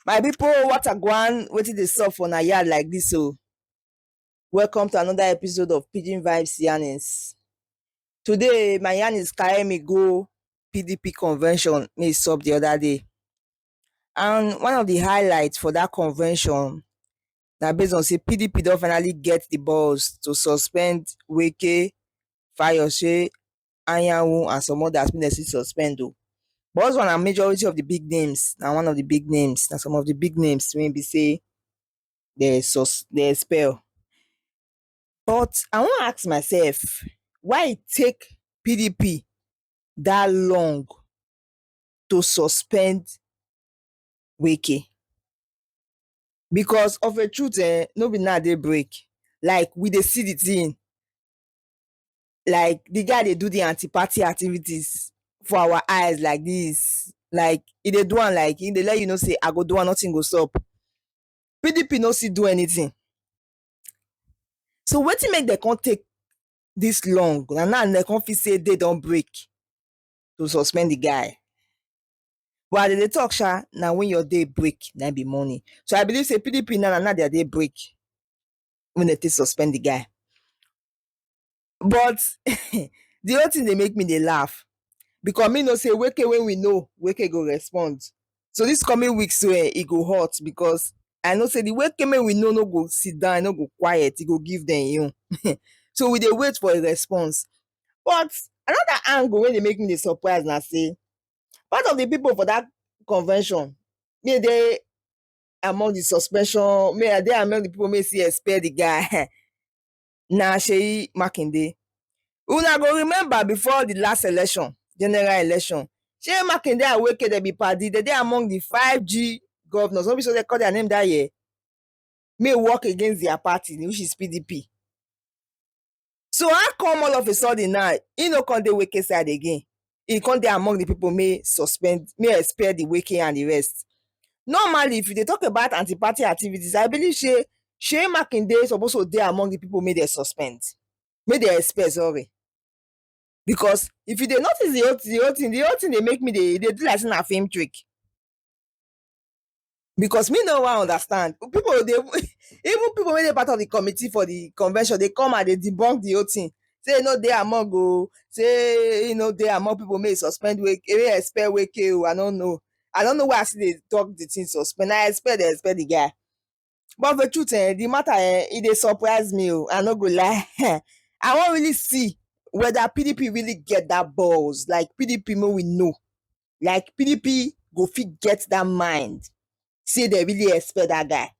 my pipo what agwan wetin dey sup for na yard like dis o oh? welcome to another episode of pidgin vibes yarnings today my yarnings carry me go pdp convention wey e sup di oda day And one of the highlights for that convention na based on say PDP don finally get the balls to suspend Wike, Fayose, Anyanwu and some others wey dem still suspend o. But those one na majority of the big names, na one of the big names, na some of the big names wey be say dem sus dem expel. But I wan ask myself why e take PDP that long to suspend Wike because of a truth eh, no be now they break. Like we dey see the thing. Like the guy they do the anti-party activities for our eyes like this. Like if they do one like if they let you know say I go do one, nothing go stop. PDP no see do anything. So what to make they can't take this long? And now they can't say they don't break. to suspend the guy. But as they dey talk sha, na when your day break, na be morning. So I believe say PDP now na now their day break when they take suspend the guy. But the whole thing dey make me dey laugh because me know say Weke when we know, Weke go respond. So this coming week so eh, e go hot because I know say the Weke when we know no go sit down, e no go quiet, e go give them you. so we dey wait for a response. But another angle wey dey make me dey surprise na sey part of the people for that convention me dey among the suspension me I dey among the people wey still expel the guy na Seyi Makinde. Una go remember before the last election, general election, Seyi Makinde and Wike dem be padi, dem dey among the five G governors, no be so dem call their name that year? May work against their party which is PDP. So how come all of a sudden now he no come the wicked side again? He come there among the people may suspend, may expel the wicked and the rest. Normally, if they talk about anti-party activities, I believe she Shey Makinde suppose to dey among the people may they suspend, may they expel, sorry. Because if you dey notice the whole the whole thing, the whole thing they make me they they do like in a film trick. because me no wan understand people dey even people wey dey part of the committee for the convention dey come and dey debunk the whole thing say e no dey among o say e no dey among people make e suspend Wike make e expel Wike o I no know I no know why I still dey talk the thing suspend na expel dem expel the guy But the truth eh, the matter eh, e dey surprise me o. I no go lie. I wan really see whether PDP really get that balls. Like PDP make we know. Like PDP go fit get that mind. Say they really expect that guy.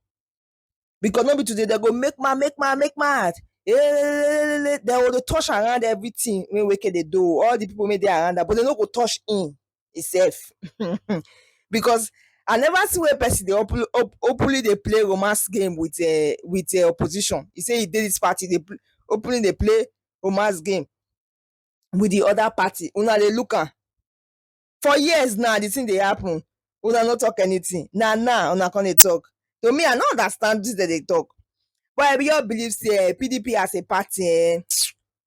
Because no be today they go make mad, make mad, make mad. Eh, They go dey touch around everything wey Wike dey do. All the people wey dey around am, but they no go touch him. itself because I never see where person dey openly openly dey play romance game with um with um opposition e say e dey this party dey openly dey play romance game with the other party una dey look am for years now the thing dey happen una no talk anything na now una come dey talk to me I no understand wetin dem dey talk but I just believe say um PDP as a party um